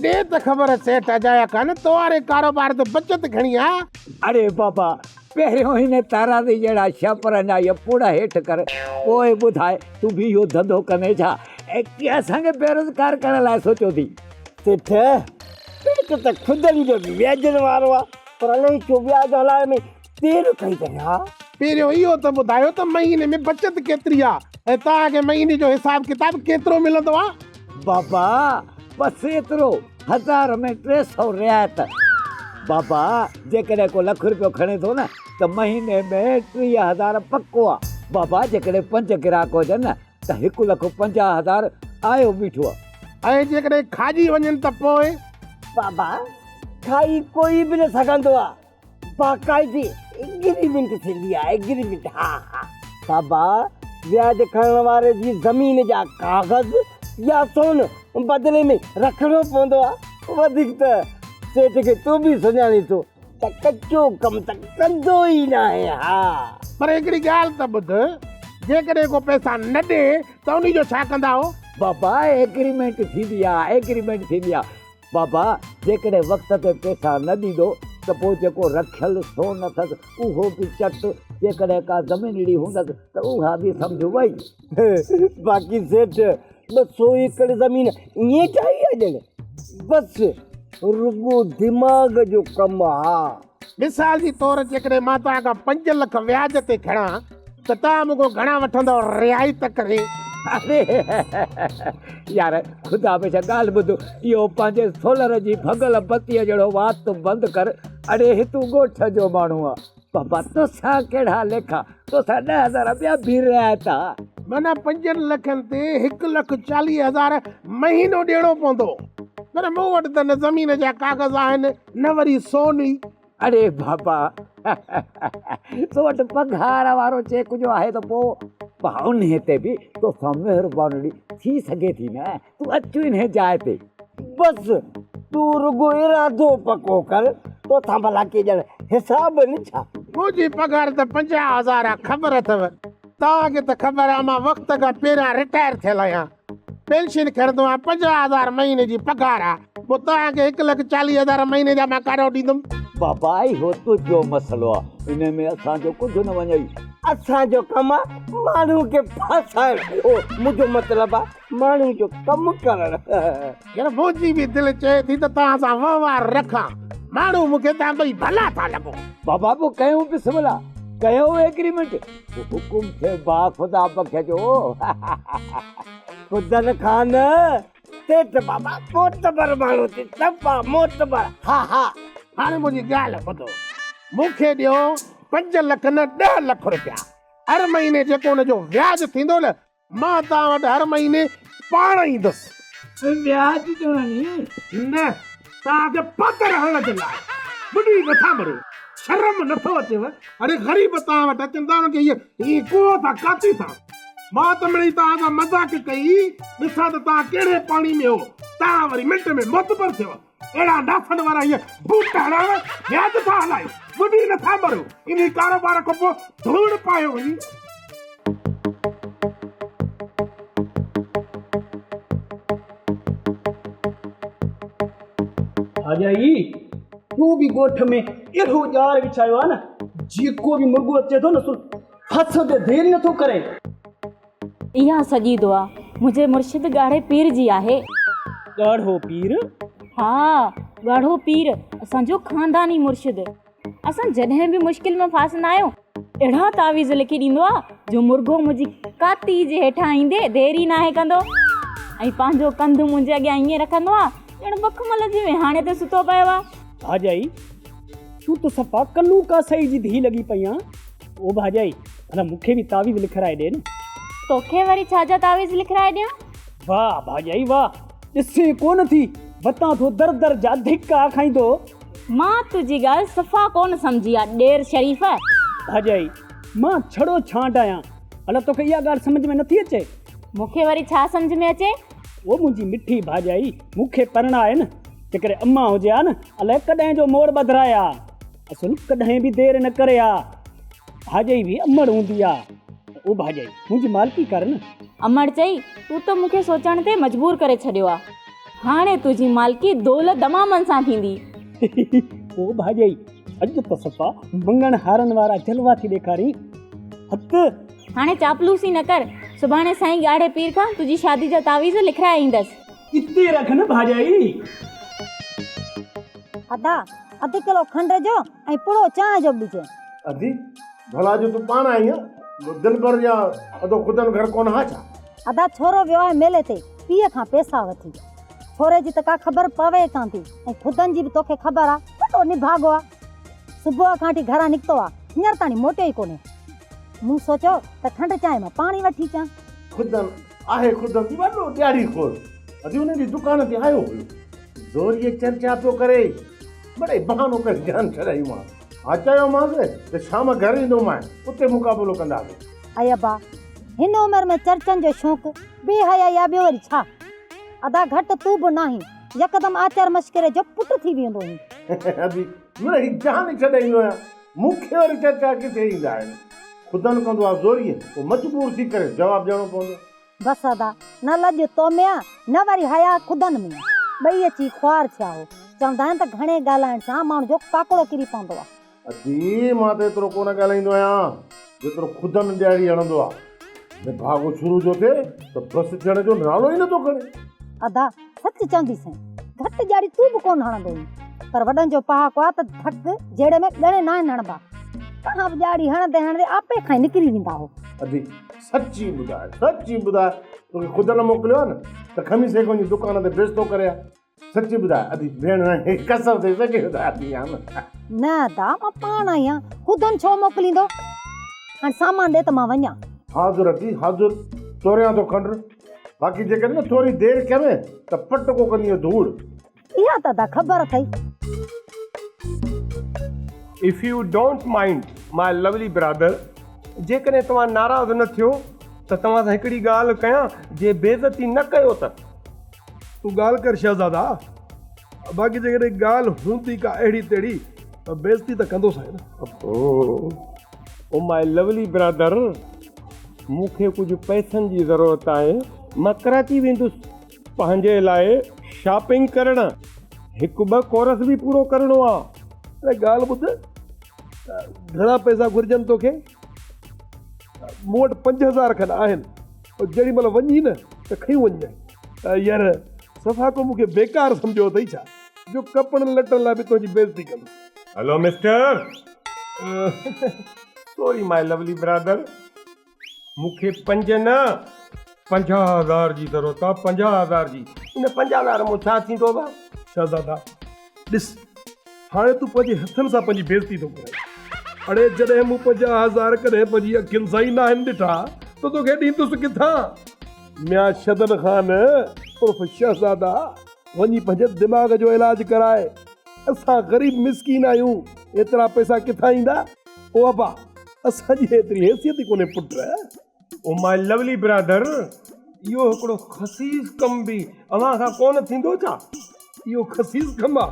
ڏي ته خبر سيٺ اجايا کان تو واري ڪاروبار تي بچت گهڻي آ. اڙي بابا پهريون هن تارادي جهڙا ڇهه پرن جا اهي پوڙها هيٺ ڪر، پوء ٻڌاء تون به اهو ڌنڌو ڪندين ڇا؟ ۽ ڪي اسان کي بيروزگار ڪرڻ لاء سوچيو ٿي؟ سيٺ، پيٽ ته کدن جو به ويجهن وارو آهي، پر الهي ڇو وياج هلائڻ ۾ دير ڪئي اٿئي ها؟ پهريون اهو ته ٻڌايو ته مهيني ۾ بچت ڪيتري آهي ۽ توهان کي مهيني جو حساب ڪتاب ڪيترو ملندو آهي؟ بابا بس ايترو هزار ۾ ٽي سؤ رعايت. بابا جيڪڏهن ڪو لک روپيو کڻي ٿو نه ته مهيني ۾ ٽيهه هزار پڪو آ. بابا جيڪڏهن پنج گراهڪ هجن نه ته هڪ لک پنجاهه هزار آيو بيٺو آ. ۽ جيڪڏهن کاڄي وڃن ته پوء؟ بابا کائي ڪوئي به نه سگهندو آ. باقاعدي ايگريمينٽ ٿيندي آهي ايگريمينٽ ها ها. صابا وياج کڻڻ واري جي زمين جا ڪاغذ يا سون بدلي ۾ رکڻو پوندو آهي. وڌيڪ ته سيٺ کي تون به سڃاڻين ٿو ته ڪچو ڪم ته ڪندو ئي ناهي ها. پر هڪڙي ڳالهه ته ٻڌ جيڪڏهن ڪو پئسا نه ڏي ته انهي جو ڇا ڪندائو؟ بابا ايگريمينٽ ٿيندي آهي ايگريمينٽ ٿيندي آهي. بابا جيڪڏهن وقت تي پيسا نه ڏيندو ته پوء جيڪو رکيل سون اٿس اهو به چٽ، جيڪڏهن ڪا زمينڙي هوندس ته اها به سمجهه وئي. باقي سيٺ ٻه سو ايڪڙ زمين ائين ٺاهي آ ڄڻ بس رڳو دماغ جو ڪم آ. مثال جي طور جيڪڏهن مان توهان کان پنج لک وياج تي کڻان ته توهان مون کان گهڻا وٺندؤ رعايت ڪري؟ اري يار خدا بيشڪ ڳالهه ٻڌ اهو پنهنجي سولر جي ڀڳل بتيء جهڙو وات تون بند ڪر اڙي هي تون ڳوٺ جو ماڻهو آ بابا توسان ڪهڙا ليکا توسان ڏهه هزار ٻيا به رعايت آ. معنيٰ پنجن لکن تي هڪ لک چاليهه هزار مهينو ڏيڻو پوندو پر مون وٽ ته نه زمين جا ڪاغذ آهن نه وري سوني. اڙي بابا تو وٽ پگهار وارو چيڪ جو آهي ته پوء انهي تي به تو سان مهربانڙي ٿي سگهي ٿي نه. تون اچ انهي جاء تي. بس تون رڳو ارادو پڪو ڪر. تو سان ڀلا ڪي ڄڻ حساب نه ڇا؟ منهنجي پگهار ته پنجاهه هزار آ خبر اٿئو؟ توهان کي ته خبر آ مان وقت کان پهريان رٽائر ٿيل آهيان. پينشن کڻندو آهيان، پنجاهه هزار مهيني جي پگهار آ، پوء توهان کي هڪ لک چاليهه هزار مهيني جا مان ڪاڏانهن ڏيندم؟ بابا اهو تنهنجو مسئلو آ، ان ۾ اسان جو ڪجهه نه وڃئي. اسان جو ڪم آ ماڻهو کي ڦاسائڻ، اهو منهنجو مطلب آ ماڻهو جو ڪم ڪرڻ. يار منهنجي به دل چئي ٿي ته توهان سان وهنوار رکان، ماڻهو مون کي توهان ٻئي ڀلا ٿا لڳو. بابا پوء ڪيون به سملا، ڪيو ايگريمينٽ. حڪم ٿئي با خدا بک جو فضل خان سيٺ بابا معتبر ماڻهو ٿي صفا معتبر ها ها هاڻي منهنجي ڳالهه ٻڌو مون کي ڏيو پنج لک نه ڏهه لک روپيا هر مهيني جيڪو ان جو وياج ٿيندو نه مان توهان وٽ هر مهيني پاڻ ايندس. وياج جو هڻي؟ نه، توهان کي پاتر هڻڻ جي لاء. ٻڏي نٿا مرو. شرم نٿو اچيو؟ اڙي غريب توهان وٽ اچن ٿا انهن کي ايئن ايئن ڪوهو ٿا ڪاٿي ٿا. مان ته مڙئي توهان سان مذاق ڪئي. ڏسان ته توهان ڪهڙي پاڻي ۾ هو. توهان وري منٽ ۾ معتبر ٿيو. اهڙا ڏاسن وارا هيء بوٽ هڻائڻ وياج ٿا هلائين، ٻڏي نٿا مرو، انهي ڪاروبار کان پوء ڌوڙ پايو وڃي. خواجائي، تو به ڳوٺ ۾ اهڙو ڄار وڇايو آهي نه، جيڪو به مرڳو اچي ٿو نه سو ڦسڻ تي دير ئي نٿو ڪري. اها سڄي دعا منهنجي مرشد ڳاڙهي پير جي آهي. ڳاڙهو پير؟ ها ڳاڙهو پير اسان جو خانداني مرشد. اسان جڏهن به مشڪل ۾ ڦاسندا آهيون اهڙا تعويذ لکي ڏيندو آهي جو مرغو منهنجي ڪاتي جي هيٺان ايندي دير ئي ناهي ڪندو ۽ پنهنجو ڪنڌ منهنجي اڳيان ائين رکندو آهي ڄڻ مخمل جي ويهاڻي تي ستو پيو آهي. ڀاڄائي! تون ته صفا ڪلو ڪاسائي جي ڌيء لڳي پئي آن. او ڀاڄائي ڀلا مون کي به تعويذ لکرائي ڏي نه. توکي وري ڇا جا تعويذ لکرائي ڏيان؟ واهه ڀاڄائي واهه ڏسين ڪونه ٿي وتان ٿو در در جا ڌڪا کائيندو. مان تنهنجي ڳالهه صفا ڪونه سمجهي آ ڏير شريف. ڀاڄائي مان ڇڙو ڇانڊ آهيان ڀلا توکي اها ڳالهه سمجهه ۾ نٿي اچي. مون کي وري ڇا سمجهه ۾ اچي. او منهنجي مٺي ڀاڄائي مون کي پرڻاء نه جيڪڏهن امان هجي ها نه الائي ڪڏهن جو مور ٻڌرائي ها. اصل ڪڏهن به دير نه ڪري آ. ڀاڄئي به امڙ هوندي آ. او ڀاڄئي، منهنجي مالڪي ڪر نه. امڙ چئي، تون ته مون کي سوچڻ تي مجبور ڪري ڇڏيو آ. هاڻي تنهنجي مالڪي دول دمامن سان ٿيندي. او ڀاڄئي، اڄ ته صفا مڱڻ هارن وارا جلوا ٿي ڏيکارين. هت! هاڻي چاپلوسي نه ڪر. سڀاڻي سائين ڳاڙهي پير کان تنهنجي شادي جا تعويذ لکرائي ايندس. اتي رک نه ڀاڄائي. ادا اڌ ڪلو کنڊ جو ۽ پڙو چانهه جو ٻج. ادي ڀلا جو تون پاڻ آهين دلبر يا ادو خدن گهر ڪونه ها ڇا. ادا ڇورو ويو آهي ميلي تي پيء کان پيسا وٺي. ڇوري جي ته ڪا خبر پوي ڪانه ٿي ۽ خدن جي به توکي خبر آ وڏو نڀاڳو آ. صبح کان وٺي گهران نڪتو آ هينئر تاڻي موٽيو ئي ڪونهي. مون سوچيو ته کنڊ چانهه مان پاڻ ئي وٺي اچان. خدن آهي قدرتي وڏو ڏياڙي خور. اڄ انهن جي دڪان تي آيو هيو. زوريء چرچا پيو ڪري. مڙئي بهانو ڪري جان ڇڏايومانس. ها چيومانس ته شام گهر ايندو مانء اتي مقابلو ڪنداسين. اي ابا! هن عمر ۾ چرچن جو شوق بي حيائي آ ٻيو وري ڇا؟ ادا گهٽ تون به ناهين. يڪدم آچر مشڪري جو پٽ ٿي ويندو هين. ابي! مڙئي جان ڇڏايندو آهيان. مون کي وري چرچا ڪٿي ايندا آهن. خدن ڪندو آ زوريء پوء مجبور ٿي ڪريس جواب ڏيڻو پوندو. بس ادا، نه لڄ تو ۾ آ نه وري حياء خدن ۾ آ. ٻئي اچي خوار ٿيا هو. چوندا آهن ته گهڻي ڳالهائڻ سان ماڻهو جو ڪاڪڙو ڪري پوندو آ. ادي، مان ته ايترو ڪونه ڳالهائيندو آهيان. جيترو خدا نه ڏياڙي هڻندو آ. نڀاڳو شروع جو ٿئي ته بس ٿيڻ جو نالو ئي نه ٿو کڻي. ادا سچ چوندي سائين گهٽ ڄاڙي تون به ڪون هڻندو هئين پر وڏن جو پهاڪو آ ته ڌڪ جهيڙي ۾ ڳڻي ناهن هڻبا توهان به ڄاڙي هڻندي هڻندي آپي کان ئي نڪري ويندا هو. ادي سچ ئي ٻڌاء سچ ئي ٻڌاء توکي خدا نه موڪليو آ نه ته کمي سيڪون جي دڪان تي بيستو ڪري آ. سچ ٻڌاء ادي ڀيڻ رانجهي قسم اٿئي سچ ٻڌاء ادي جان. نه ادا مان پاڻ آهيان خودم ڇو موڪليندو هاڻ سامان ڏي ته مان وڃان. حاضر ادي حاضر توريان ٿو کنڊ باقي جيڪڏهن نه ٿوري دير ڪيم ته پٽ ڪو ڪندينء ڌوڙ. اها ته ادا خبر اٿئي. If you don't mind my lovely brother جيڪڏهن توهان ناراض نه ٿيو ته توهان سان هڪڙي ڳالهه ڪيان جي بيعزتي نه ڪيو ته. تون ڳالهه ڪر شهزادا، باقي جيڪڏهن ڳالهه هوندي ڪا اهڙي تهڙي ته بيعزتي ته ڪندوسانء نه. او مائي لوولي برادر، مون کي ڪجهه پئسن جي ضرورت آهي، مان ڪراچي ويندس پنهنجي لاء شاپنگ ڪرڻ، هڪ ٻه ڪورس به پورو ڪرڻو آ. اڙي ڳالهه ٻڌ، گهڻا پئسا گهرجن توکي؟ مون وٽ پنج هزار کن آهن پر جيڏي مهل وڃين ته کنيون وڃجانء. ير صفا ڪو مون کي بيڪار سمجهيو اٿئي ڇا جو ڪپڙن لٽن لاء به تنهنجي بيعزتي ڪندس. هلو مسٽر سوري ماء لولي برادر مون کي پنج نه پنجاهه هزار جي ضرورت آ پنجاهه هزار جي ان پنجاهه هزار مون ڇا ٿيندو ڀا. شهزادا! ڏس، هاڻي تون پنهنجي هٿن سان پنهنجي بيعزتي ٿو ڪرين. اڙي، جڏهن مون پنهنجا هزار ڪڏهن پنهنجي اکين سان ئي ناهن ڏٺا ته توکي ڏيندس ڪٿان؟ ميان شدن خان عرف شهزاده، وڃي پنهنجي دماغ جو علاج ڪراء. اسان غريب مسڪين آهيون، ايترا پئسا ڪٿان ايندا؟ او ابا، اسان جي ايتري حيثيت ئي ڪونهي پٽ. او ماء لولی برادر، اهو هڪڙو خسيس ڪم به اوهان کان ڪونه ٿيندو ڇا؟ اهو خسيس ڪم آ.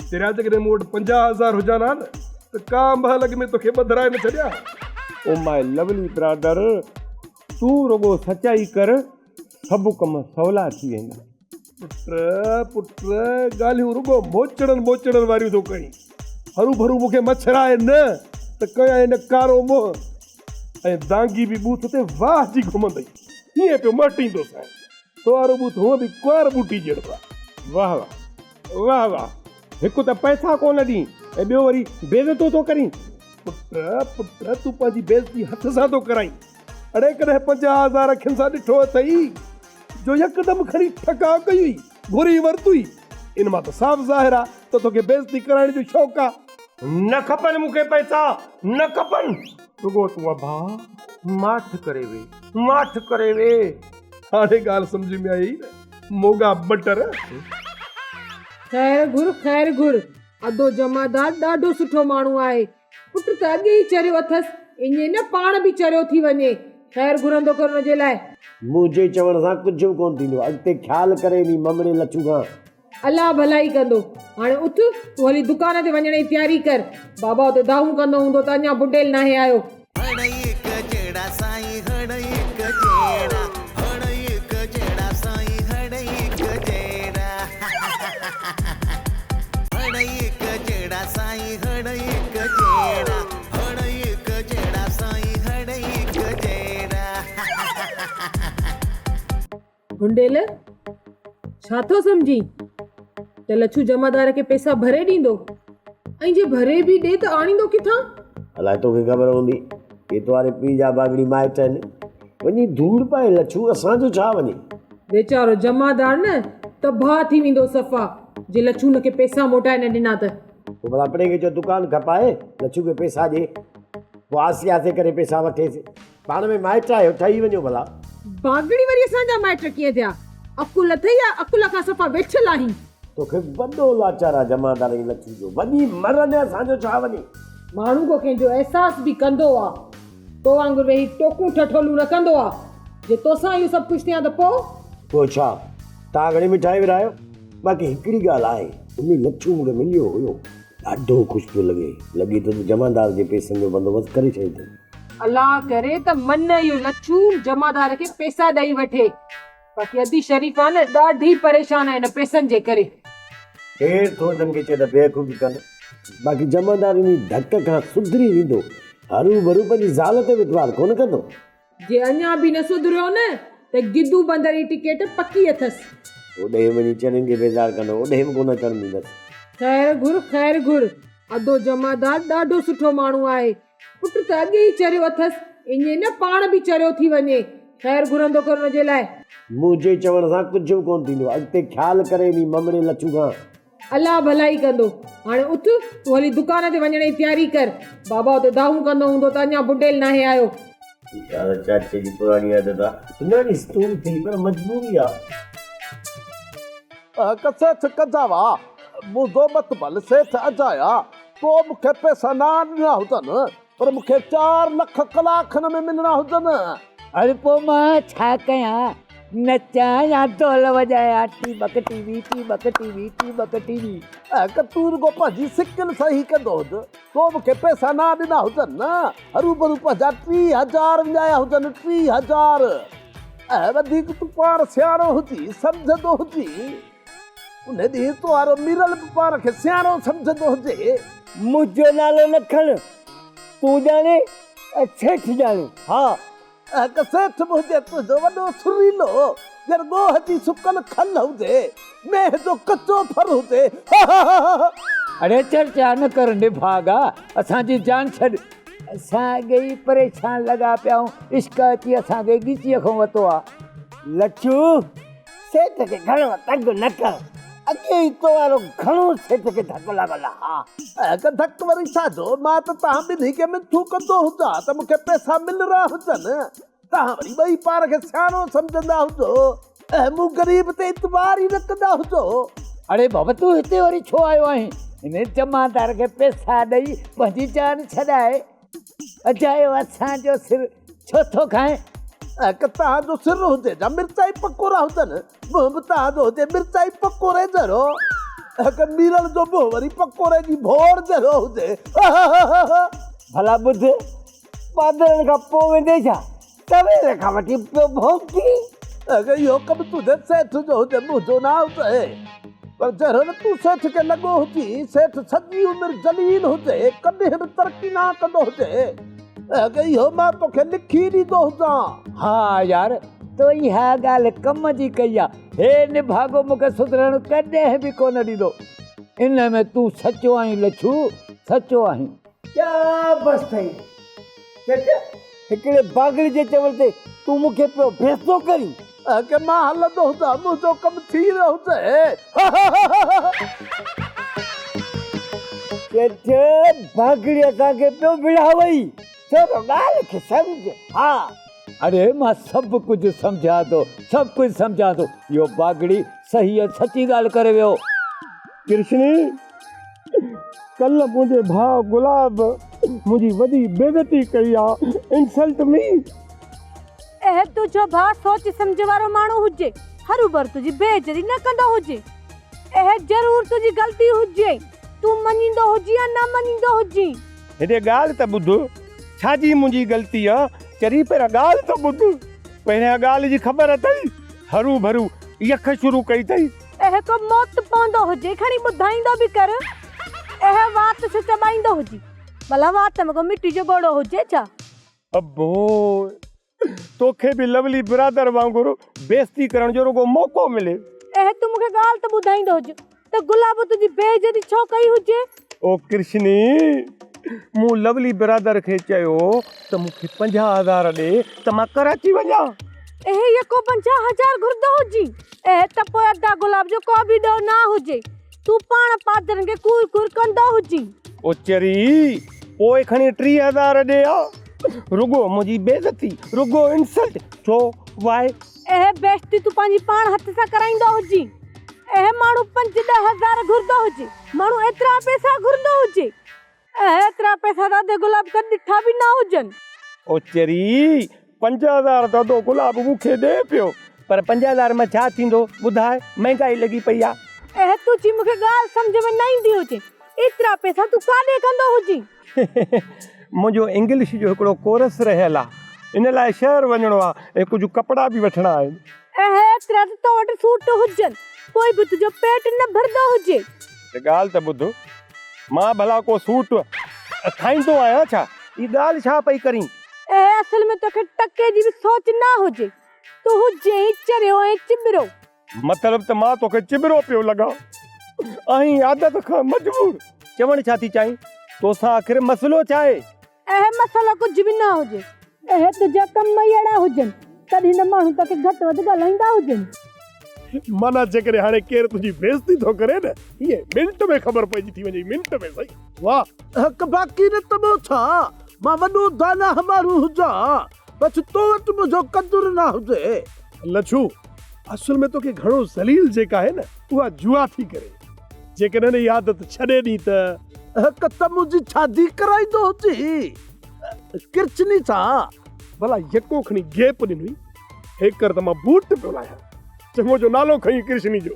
پهريان جيڪڏهن مون وٽ پنجاهه هزار هجان ها نه ته ڪا به حال اڳ ۾ توکي ٻڌرائي نه ڇڏيان ها. او ماء لولی برادر، تون رڳو سچائي ڪر، سڀ ڪم سولا ٿي ويندا. پٽ پٽ ڳالهيون رڳو موچڙن ٻوچڙن واريون ٿو ڪرين. هرو ڀرو مون کي مڇرائي نه ته ڪيائين هن ڪارو منهن ۽ دانگي به ٻوٿ تي واهه جي گهمندئي هيئن پيو مهٽيندو سائين. تو وارو ٻوٿ هونء به ڪنوار ٻوٽي جهڙو آهي. واهه واهه واهه واهه هڪ ته پئسا ڪو نه ڏئين ۽ ٻيو وري بيعزتو ٿو ڪرين. پٽ پٽ تون پنهنجي بيعزتي هٿ سان ٿو ڪرائين. اڙي ڪڏهن پنجاهه هزار اکين سان ڏٺو اٿئي جو يڪدم کڻي ٺڪاء ڪئي هئي، گهري ورتوئي، ان مان ته صاف ظاهر آ ته توکي بيعزتي ڪرائڻ جو شوق آ. نه کپن مون کي پئسا، نه کپن. رڳو تون ابا ماٺ ڪري وي، ماٺ ڪري وي. هاڻي ڳالهه سمجهه ۾ آيئي نه موڳا بٽر. خير گهر، خير گهر. ادو جمعدار ڏاڍو سٺو ماڻهو آهي. پٽ ته اڳي ئي چريو اٿس، اڃي نه پاڻ به چريو ٿي وڃي. خير گهرندو ڪر ان جي لاء. منهنجي چوڻ سان ڪجهه به ڪونه ٿيندو. اڳتي خيال ڪري انهي ممڙي لڇو کان. الله ڀلائي ڪندو. هاڻي اٿ، تون هلي دڪان تي وڃڻ جي تياري ڪر. بابا اتي دانهون ڪندو هوندو ته اڃا بنڊيل ناهي آيو. هڙئي هڪ جهڙا سائين هڙئي هڪ جهڙا هڙئي هڪ جهڙا سائين هڙئي هڪ جهڙا هڙئي هڪ جهڙا سائين. ڀونڊيل، ڇا ٿو سمجهين ته لڇو جمعدار کي پئسا ڀري ڏيندو؟ ۽ جي ڀري به ڏي ته آڻيندو ڪٿان؟ الاء توکي خبر هوندي اهي توهاري پيء جا باگڙي مائٽ آهن. وڃي ڌوڙ پائي لڇو، اسان جو ڇا وڃي. ويچارو جمعدار نه تباهه ٿي ويندو صفا جي لڇو هن کي پئسا موٽائي نه ڏنا ته. پوء ڀلا پڙينگي جو دڪان کپائي لڇو کي پيسا ڏي پوء آسي آسي ڪري پيسا وٺيس پاڻ ۾ مائٽ آهيو ٺهي وڃو ڀلا. ڀاڳڙي وري اسان جا مائٽ ڪيئن ٿيا عقل اٿئي يا عقل کان صفا ويٺل آهين. توکي وڏو لاچار آ جمعدار ۽ لڇو جو وڃي مر نه اسان جو ڇا وڃي. ماڻهو ڪو ڪنهن جو احساس به ڪندو آ. تو وانگر ويهي ٽوڪون ٺٺولون رڪندو آ. جي توسان اهو سڀ ڪجهه ٿيان ته پوء؟ پوء ڇا؟ توهان گهڻي مٺائي ورهايو. باقي هڪڙي ڳالهه آهي. انهي لڇو مون کي مليو هيو. ڏاڍو خوش پيو لڳي. لڳي ٿو ته جمعدار جي پيسن جو بندوبست ڪري ڇڏيو اٿئي. الله ڪري ته من اهو لڇو جمعدار کي پيسا ڏئي وٺي. باقي ادي شريف آ نه ڏاڍي پريشان آهي هن پيسن جي ڪري. ڪير ٿو هن کي چئي ته بيوقوفي ڪن. باقي جمعدار انهي ڌڪ کان سڌري ويندو. هروڀرو پنهنجي زال تي وٽوار ڪونه ڪندو. جي اڃا به نه سڌريو نه ته گدو بندر جي ٽڪيٽ پڪي اٿس. هوڏهي وڃي چرين کي بيزار ڪندو. هوڏهي به ڪونه اچڻ ڏيندس. خير گهر خير گهر. ادو جمعدار ڏاڍو سٺو ماڻهو آهي. پٽ ته اڳي ئي چريو اٿس، ايئن نه پاڻ به چريو ٿي وڃي. خير گهرندو ڪر ان جي لاء. منهنجي چوڻ سان ڪجهه به ڪونه ٿيندو. اڳتي خيال ڪري انهي ممڙي لڇو کان. الله ڀلائي ڪندو. هاڻي اٿ، تون هلي دڪان تي وڃڻ جي تياري ڪر. بابا اتي دانهون ڪندو هوندو ته اڃا بڊيل ناهي آيو. اها ته چاچي جي پراڻي عادت آ. سڃاڻيس تون به ٿي پر مجبوري آ. ڪسيٺ ڪجاوا، منهنجو متبل سيٺ اجايا. تو مون کي پئسا نه ڏنا هجن پر مون کي چار لک ڪلاڪن ۾ ملڻا هجن. هڙ پوء مان ڇا ڪيان؟ نچان يا ڍول وڄايان؟ ٽيٻڪ ٽيٻي ٽيٻڪ ٽيٻي ٽيٻڪ ٽيٻي. اهڪ تون رڳو پنهنجي سڪل سان هي ڪندو هج. تو مون کي پئسا نه ڏنا هجن نه هروڀرو پنهنجا ٽي هزار وڃايا هجن ٽي هزار. اهي وڌيڪ تون پاڻ سياڻو هجي سمجهندو هجين. انهيء ڏينهن تون آرو ميرل به پاڻ کي سياڻو سمجهندو هجي. منهنجو نالو نه کڻ. تون ڄاڻين ۽ سيٺ ڄاڻي. ها، اهڪ سيٺ به هجي تنهنجو وڏو سريلو، ڄڻ ڳوهه جي سڪل کل هجي، مينهن جو ڪچو ڦر هجي. هههههه. اڙي چرچا نه ڪر نڀاڳا، اسان جي جان ڇڏ. اسان اڳي ئي پريشان لڳا پيا آهيون، عشق اچي اسان کي ڳچيء کان وتو آهي. لڇو! سيٽ کي گهڻو تنگ نه ڪر. اڳي ئي تو وارو گهڻو سيٽ کي ڌڪ لڳل آ. اگه ڌڪ وري ڇا جو؟ مان ته توهان ٻنهي کي مٺو ڪندو هجان ته مون کي پئسا مل رها هجن. توهان وري ٻئي پاڻ کي سياڻو سمجهندا هجو. اهي مون غريب تي اعتبار ئي نه ڪندا هجو. اڙي بابا تون هتي وري ڇو آيو آهين؟ هن جمعدار کي پئسا ڏئي پنهنجي جان ڇڏائي. اجايو اسان جو سر ڇو ٿو کائين. اک تنهن جو سر هجي جا مرچائي پڪوڙا هجن. منهن به تنهن جو هجي مرچائي پڪوڙي جهڙو. اک ميرل جو منهن وري پڪوڙي جي ڀوڙ جهڙو هجي. هه هه هه هه هه. ڀلا ٻڌ، ٻانڌڻ کان پوء ويندين ڇا؟ ڪويل کان وٺي پيو ڀونڪي. اگر اهو ڪم تنهنجي سيٺ جو هجي، منهنجو نه آئوٽ اهي. پر جهڙو نه تون سيٺ کي لڳو هجين، سيٺ سڄي عمر ذليل هجي، ڪڏهن به ترقي نه ڪندو هجي. اگر اهو مان توکي لکي ڏيندو هجان. ها يار، تو ئي اها ڳالهه ڪم جي ڪئي آ. هي نڀاڳو مون کي سڌرڻ ڪڏهن به ڪونه ڏيندو. ان ۾ تون سچو آهين لڇو، سچو آهين. ڪيا بس ٿئي چچ هڪڙي باگڙي جي چوڻ تي تون مون کي پيو ڀيسندو ڪرين. اگهه مان هلندو هلان منهنجو ڪم ٿي ويو اٿئي. چچ باگڙي اسان کي پيو وڙهاوئي ڇو ٿو ڳالهه کي سمجهه ها. اڙي مان سڀ ڪجهه سمجهان ٿو سڀ ڪجهه سمجهان ٿو اهو باگڙي صحيح ۽ سچي ڳالهه ڪري ويو. ڪرشني! ڪلهه منهنجي ڀاء گلاب منهنجي وڏي بيعزتي ڪئي آ. Insult me! اهي تنهنجو ڀاء سوچ سمجهه وارو ماڻهو هجي، هروڀرو تنهنجي بي عزتي نه ڪندو هجي. اهي ضرور تنهنجي غلطي هجي، تون مڃيندو هجين يا نه مڃيندو هجين. هتي ڳالهه ته ٻڌ، ڇا جي منهنجي غلطي آ؟ چري پهريان ڳالهه ته ٻڌ. پهريان ڳالهه جي خبر اٿئي؟ هروڀرو يخ شروع ڪئي اٿئي. اهي ڪو موت پوندو هجي کڻي ٻڌائيندو به ڪر اهي وات ڇو چٻائيندو هجي ڀلا وات ۾ ڪو مٽي جو ڳوڙهو هجي ڇا. ابو توکي به لولي برادر وانگر بيستي ڪرڻ جو رڳو موقعو ملي. اهي تون مونکي ڳالهه ته ٻڌائيندو هج ته گلابو تنهنجي بي عزتي ڇو ڪئي هجي. او ڪرشني! مون لولي برادر کي چيو ته مون کي پنجاهه هزار ڏي ته مان ڪراچي وڃان. اهي يڪو پنجاهه هزار گهرندو هجين. اهي ته پوء ادا گلاب جو ڪو به ڏوهه نه هجي. تون پاڻ پادرن کي ڪوڙ ڪوڙ ڪندو هجين. او چري! پوء کڻي ٽيهه هزار ڏي ها. رڳو منهنجي بيعزتي. رڳو انسلٽ. ڇو؟ وائي؟ اهي بيعزتي تون پنهنجي پاڻ هٿ سان ڪرائيندو هجين. اهي ماڻهو پنج ڏهه هزار گهرندو هجي. ماڻهو ايترا پئسا گهرندو هجي. اهي ايترا پئسا دادي گلاب ڪڏهن ڏٺا به نه هجن. او چري! پنج هزار دادو گلاب مون کي ڏي پيو. پر پنج هزار مان ڇا ٿيندو؟ ٻڌاء، مهنگائي لڳي پئي آهي. اهي تنهنجي مون کي ڳالهه سمجهه ۾ نه ايندي هجي. ايترا پئسا تون ڪاڏي ڪندو هجين. منهنجو انگلش جو هڪڙو ڪورس رهيل آ ان لاء شهر وڃڻو آ ۽ ڪجهه ڪپڙا به وٺڻا آهن. اهي ايترا ته تو وٽ سوٽ هجن پوء به تنهنجو پيٽ نه ڀرندو هجي. هڪ ڳالهه ته ٻڌ مان ڀلا ڪو سوٽ ٺاهيندو آهيان ڇا؟ هي ڳالهه ڇا پئي ڪرين؟ اهي اصل ۾ توکي ٽڪي جي به سوچ نه هجي. تون هجين ئي چريو ۽ چٻرو. مطلب ته مان توکي چٻرو پيو لڳان آهين عادت کان مجبور. چوڻ ڇا ٿي چاهين توسان آخر مسئلو ڇا آهي؟ اهي مسئلا ڪجهه به نه هجي. اهي تنهنجا ڪم ئي اهڙا هجن تڏهن نه ماڻهو توکي گهٽ وڌ ڳالهائيندا هجن. معنيٰ جيڪڏهن هاڻي ڪير تنهنجي بيعزتي ٿو ڪري نه ايئن منٽ ۾ خبر پئجي ٿي وڃئي منٽ ۾ سهي. واهه. اهڪ باقي نه ته ٻيو ڇا مان وڏو داناهه ماڻهو هجان. بس تو وٽ منهنجو قدر نه هجي. لڇو، اصل ۾ توکي گهڻو ذليل جي ڪاهي نه اها جوا ٿي ڪري. جيڪڏهن اها عادت ڇڏي ڏئين ته. هڪ ته منهنجي شادي ڪرائيندو هجي ڪرچني سان. ڀلا يڪو کڻي گيپ ڏني هيڪر ته مان بوٽ پيو لاهيان. چڱو جو نالو کنئين ڪرشني جو.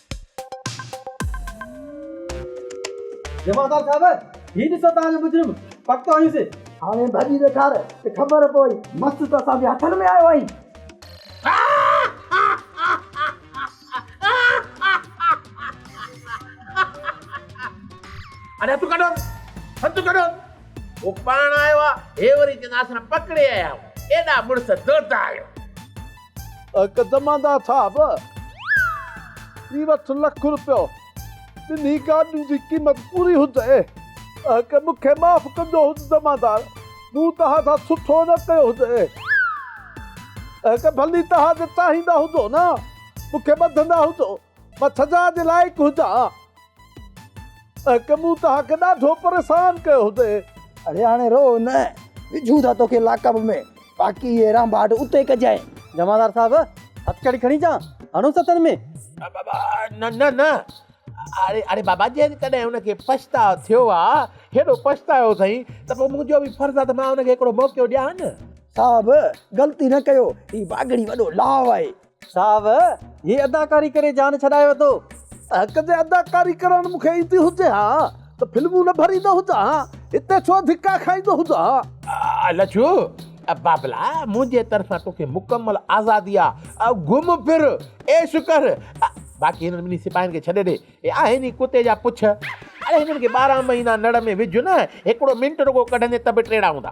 جمعدار صاحب هي ڏسو توهان جو مجرم پڪو هيس هاڻي ڀڄي ڏيکار ته خبر پوي مس ته اسان جي هٿن ۾ آيو آهين اڙي هٿ ڪڍو هٿ ڪڍو هو پاڻ آيو آهي هي وري چونداسن پڪڙي آيا آهيون ايڏا مڙس دڙدا آهيو. اک دماندا ٿا به ٿي وٺ لک روپيو ٻنهي گاڏين جي قيمت پوري هجي اک مون کي معاف ڪجو هج دمادار مون توهان سان سٺو نه ڪيو هجي اک ڀلي توهان جي چاهيندا هجو نه مون کي ٻڌندا هجو مان ڇجا جي لائق هجان ۽ ڪي مون تهانکي ڏاڍو پريسان ڪيو هجي. اڙي هاڻي رو نه، وجهون ٿا توکي لاڪ اپ ۾، باقي هي رانڀاٽ اتي ڪجانء. جمعدار صاحب، هٿڪڙي کڻي چا هڻون ستن ۾؟ نه نه نه، اڙي بابا جيڪڏهن ان کي پڇتاء ٿيو آ، هيڏو پڇتايو اٿئي ته پوء منهنجو به فرض آ ته مان ان کي هڪڙو موقعو ڏيان. صاحب، غلطي نه ڪيو، هي باگڙي وڏو لاء آهي. صاحب هي اداڪاري ڪري جان ڇڏائي وتو. حق جي اداڪاري ڪرڻ مون کي ايندي هجي ها ته فلمون نه ڀريندو هجان ها هتي ڇو ڌڪا کائيندو هجان ها. لڇو بابلا منهنجي طرفان توکي مڪمل آزادي آ گهم ڦر عيش ڪر باقي هنن ٻنهي سپاهين کي ڇڏي ڏي هي آهن ئي ڪتي جا پڇ اڙي هنن کي ٻارهن مهينا نڙ ۾ وجهه نه هڪڙو منٽ رڳو ڪڍندين ته به ٽيڙا هوندا.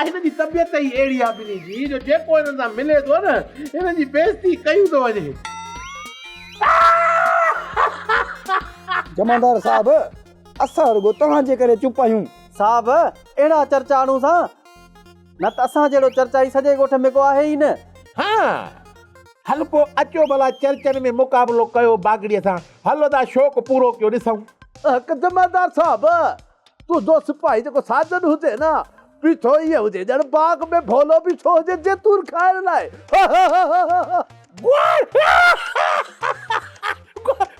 هن جي طبيعت ئي اهڙي آهي ٻنهي جي جو جيڪو هنن سان ملي ٿو نه هنن جي بيعزتي ڪيون ٿو وڃي. جمعدار صاحب اسان رڳو توهان جي ڪري چپ آهيون. صاحب اهڙا چرچا آڻو سا نه ته اسان جهڙو چرچائي سڄي ڳوٺ ۾ ڪو آهي ئي نه. ها هل پو اچو ڀلا چرچن ۾ مقابلو ڪيو باگڙي سان هل ادا شوق پورو ڪيو ڏسون. اهڪ جمعدار صاحب ٻڌو سپاهي جيڪو ساجن هجي نه بيٺو ائين هجي ڄڻ باغ ۾ ڀولو بيٺو هجي زيتون کائڻ لاء هههههههههههه. گوڙ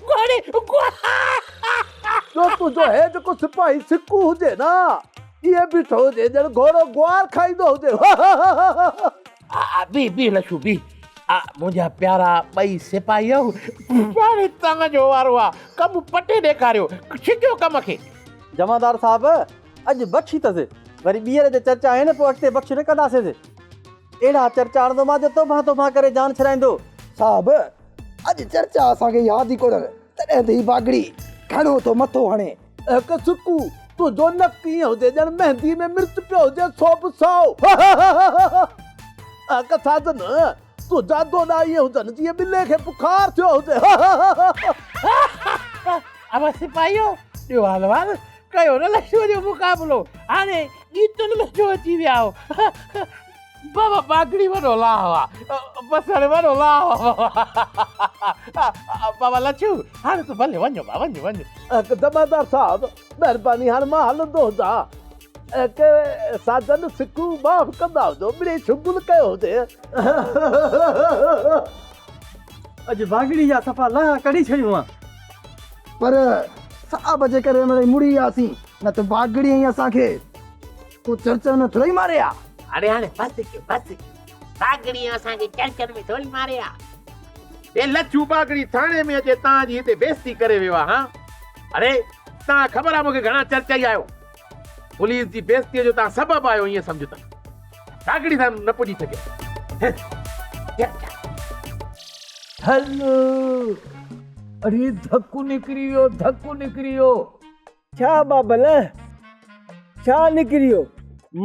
گوڙي گوڙي. ٻيو تنهنجو هي جيڪو سپاهي سڪو هجي نه ائين بيٺو هجي ڄڻ گهوڙو گوار کائيندو هجي هههههههه. بيھ بيھ لڇو بيھ منهنجا پيارا ٻئي سپاهيو. هاڻي توهان جو وارو آ ڪم پٽي ڏيکاريو ڇڄو ڪم کي. جمعدار صاحب اڄ بخشي ته سي وري ٻيهر جي چرچ آهي نه پوء اڳتي بخش نه ڪنداسين سي اهڙا چرچ آڻندو مان جو توبهان توبهان ڪري جان ڇڏائيندو. صاحب اڄ چرچ آ اسان کي ياد ئي ڪونهن تڏهن ته هي باگڙي گهڻو ٿو مٿو هڻي. اک سڪو، تنهنجو نڪ ائين هجي ڄڻ مهندي ۾ مرچ پيو هجي سو به سائو. اک ساجن، تنهنجا دوڏا ائين هجن جيئن ٻلي کي بخار ٿيو هجي. اول سپاهيو، ڏيو احوال، ڪيو نه لشو جو مقابلو، هاڻي ڳيتن ۾ ڇو اچي ويا آهيو. بابا پاکڙي وڏو لاهو آ بس هاڻي وڏو لاهو آ بابا لڇو هاڻي تون ڀلي وڃ بابا وڃ وڃ. دمادار صاحب مهرباني هاڻي مان هلندو هجان ڪي ساجن سکون معاف ڪندا هجو مڙئي شغل ڪيو هجي. اڄ واڳڙي جا صفا لاها ڪڍي ڇڏيون آ. پر صاحب جي ڪري مڙئي مڙي آياسين نه ته واڳڙي ۽ اسان کي. ڪو چرچن ۾ ٿورئي ماري ها. اڙي هاڻي بس ڪيو بس ڪيو باگڙي اسان کي چرچن ۾ ٿورئي ماري ها. اي لڇو باگڙي ٿاڻي ۾ اچي تان جي هتي بيستي ڪري ويو آ هان اڙي تان خبر آ مون کي گهڻا چرچائي آيو پوليس جي بيستي جو تان سبب آهيو ايئن سمجهه ته باگڙي سان نه پڄي سگهيس. هل اڙي ڌڪ نڪري ويو ڌڪ نڪري ويو. ڇا بابلهه ڇا نڪريو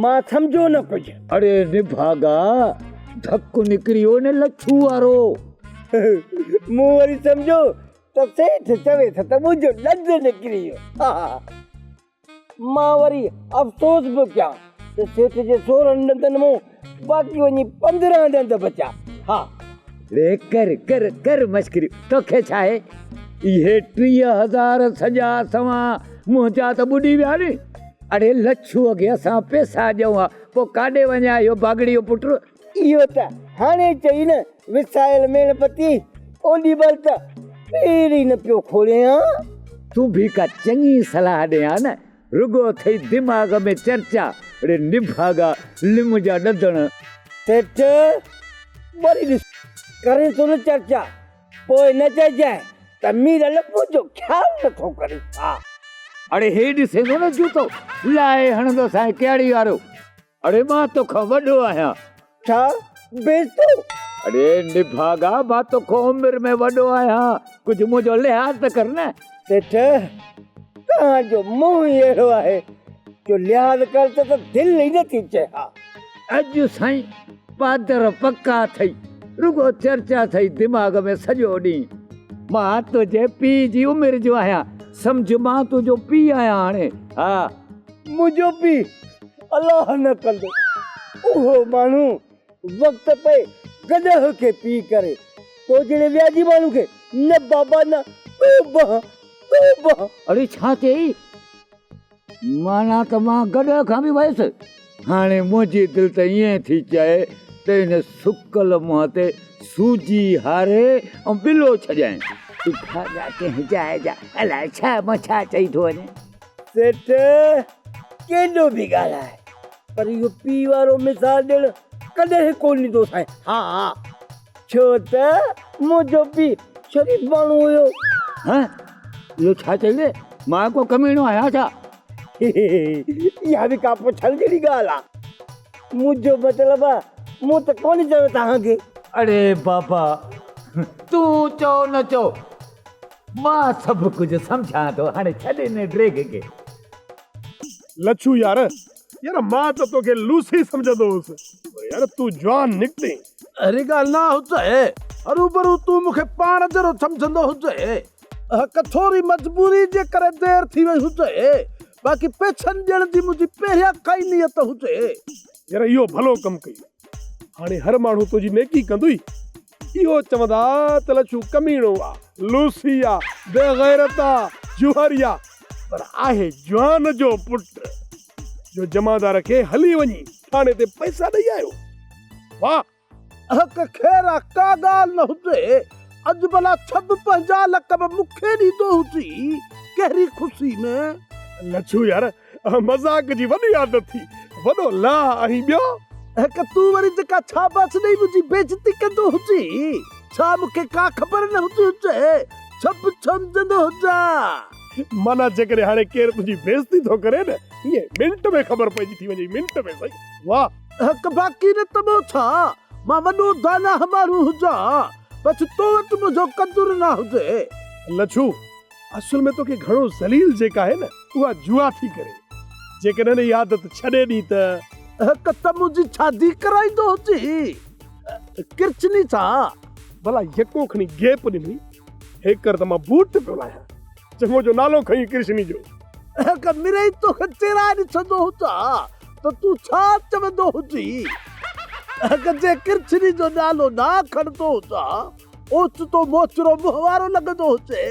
مان سمجهيو نه ڪجهه. اڙي نڀاڳا ڌڪ نڪريو نه لڇو وارو. مون وري سمجهيو ته سيٺ چوي ٿو ته منهنجو ڏند نڪري ويو. مان وري افسوس به ڪيان ته سيٺ جي سورهن ڏندن مون باقي وڃي پندرهن ڏند بچا ها. ڙي ڪر ڪر ڪر مشڪريون توکي ڇا آهي. اهي ٽيهه هزار سڄا سوان منهنجا ته ٻڏي ويا ني. اڙي لڇو اڳي اسان پيسا ڏيون ها پوء ڪاڏي وڃي آ اهو باگڙي جو پٽ. اهو ته هاڻي چئي نه وسايل ميڻ پتي اوڏي مهل ته پير ئي نه پيو کولين ها. تون به ڪا چڱي صلاح ڏي ها نه. رڳو اٿئي دماغ ۾ چرچا. اڙي نڀاڳا لم جا ڏڌڻ. سيٺ وري ڏس ڪرين ٿو نه چرچا. پوء نه چئجانء ته مير لپو جو خيال نه ٿو ڪري ڇا. اڙي هي ڏسين ٿو نه جوتو لاهي هڻندو سائين ڪهڙي وارو. اڙي مان توکان وڏو آهيان. ڇا بيستو؟ اڙي نڀاڳا مان توکان عمر ۾ وڏو آهيان ڪجهه منهنجو لحاظ ته ڪر نه. سيٺ توهان جو منهن ئي اهڙو آهي جو لحاظ ڪر ته ته دل ئي نه ٿي چئي ها. اڄ سائين پادر پڪا اٿئي رڳو چرچا اٿئي دماغ ۾ سڄو ڏينهن. مان تنهنجي پيء جي عمر جو آهيان سمجهه مان تنهنجو پيء آهيان هاڻي ها. منهنجو پيء؟ الله نه ڪندو اهو ماڻهو وقت پئي گڏهه کي پي ڪري تو جهڙي وياجي ماڻهو کي نه بابا نه توبه توبه. اڙي ڇا چيئي؟ معنيٰ ته مان گڏهه کان به ويس. هاڻي منهنجي دل ته ائين ٿي چئي ته هن سڪل منهن تي سوجي هاري ۽ ٻلو ڇڏيائين. اڀا ڳا ڪنهن جاء جا الاء ڇا مان ڇا چئي ٿو وڃان. سيٺ ڪيڏو به ڳالهاء پر اهو پيء وارو مثال ڏيڻ ڪڏهن ڪو نه ايندو سائين. ها ڇو ته منهنجو پيء شريف ماڻهو هيو. ها اهو ڇا چئي وئي؟ مان ڪو ڪميڻو آهيان ڇا؟ اها به ڪا پڇڻ جهڙي ڳالهه آ. منهنجو مطلب آ مون ته ڪو نه چيو توهان کي. اڙي بابا تون چئو نه چئو مان سڀ ڪجهه سمجهان ٿو هاڻي ڇڏ ان ڊريگ کي. لڇو يار يار مان ته توکي لوسي سمجهندو هوس پر يار تون جوان نڪتين. اهڙي ڳالهه نه هجي هروڀرو تون مون کي پاڻ جهڙو سمجهندو هجي هڪ ٿوري مجبوري جي ڪري دير ٿي وئي هجي باقي پيڇن ڏيڻ جي منهنجي پهريان کان ئي نيت هجي. يار اهو ڀلو ڪم ڪئي هاڻي هر ماڻهو تنهنجي نيڪي ڪندوئي. اهو چوندا ته لڇو ڪميڻو آ، لوسي آ، بيغيرت آ، جوهري آ پر آهي جوان جو پٽ جو جمعدار کي هلي وڃي ٿاڻي تي پئسا ڏئي آيو. واهه! اهڪ خير آ ڪا ڳالهه نه هجي، اڄ ڀلا سڀ پنهنجا لقب مون کي ڏيندو هجي، ڪهڙي خوشي ۾. لڇو يار! مذاق جي وڏي عادت ٿي وڏو لا ۽ ٻيو. هڪ تون وري جيڪا شاباس ڏئي منهنجي بيعزتي ڪندو هجين ڇا مون کي ڪا خبر نه هوندي هجي ڇپ ڇومجندو هجان. معنيٰ جيڪڏهن هاڻي ڪير تنهنجي بيعزتي ٿو ڪري نه ايئن منٽ ۾ خبر پئجي ٿي وڃي منٽ ۾ سائين واه. هڪ باقي نه ته ٻيو ڇا مان وڏو داناهه ماڻهو هجان بس تو وٽ منهنجو قدر نه هجي. لڇو اصل ۾ توکي گهڻو ذليل جيڪا آهي نه اها جوا ٿي ڪري جيڪڏهن اها عادت ڇڏي ڏين ته. هڪ ته منهنجي شادي ڪرائيندو هجي ڪرچني سان. ڀلا يڪو کڻي گيپ ڏني هيڪر ته مان بوٽ پيو لاهيان چڱو جو نالو کنئين ڪرشني جو. هڪ مرئي توکي چيرائي ڏسندو هجان ته تون ڇا چوندو هجين هڪ جي ڪرچني جو نالو نه کڻندو هجان. اوچتو موچرو منهن وارو لڳندو هجي.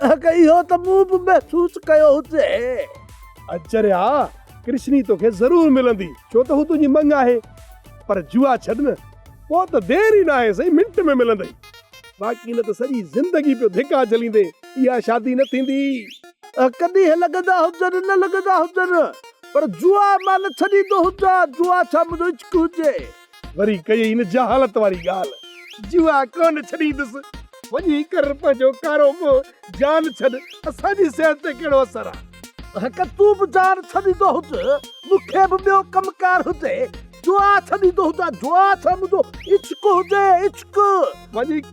اهڪ اهو ته مون به محسوس ڪيو هجي. اچريا، ڪرشني توکي ضرور ملندي، ڇو ته هو تنهنجي مڱ آهي. پر جوا ڇڏ نه، پوء ته دير ئي ناهي سائين، منٽ ۾ ملندئي. باقي نه ته سڄي زندگي پيو ڌڪا جهليندي، اها شادي نه ٿيندي. اهڪ ڏينهن لڳندا هجن، نه لڳندا هجن، پر جوا مان نه ڇڏيندو هجان، جوا ڇا منهنجو عشق هجي. وري ڪيئي هن جهالت واري ڳالهه. جوا ڪونه ڇڏيندس. وڃي ڪر پنهنجو ڪارو مون جان ڇڏ اسان جي صحت تي ڪهڙو اثر آ. هڪ تون به جان ڇڏيندو هج مون کي به ٻيو ڪم ڪار هجي جوا ڇڏيندو هجان جوا ڇا منهنجو عشق هجي عشق. وڃي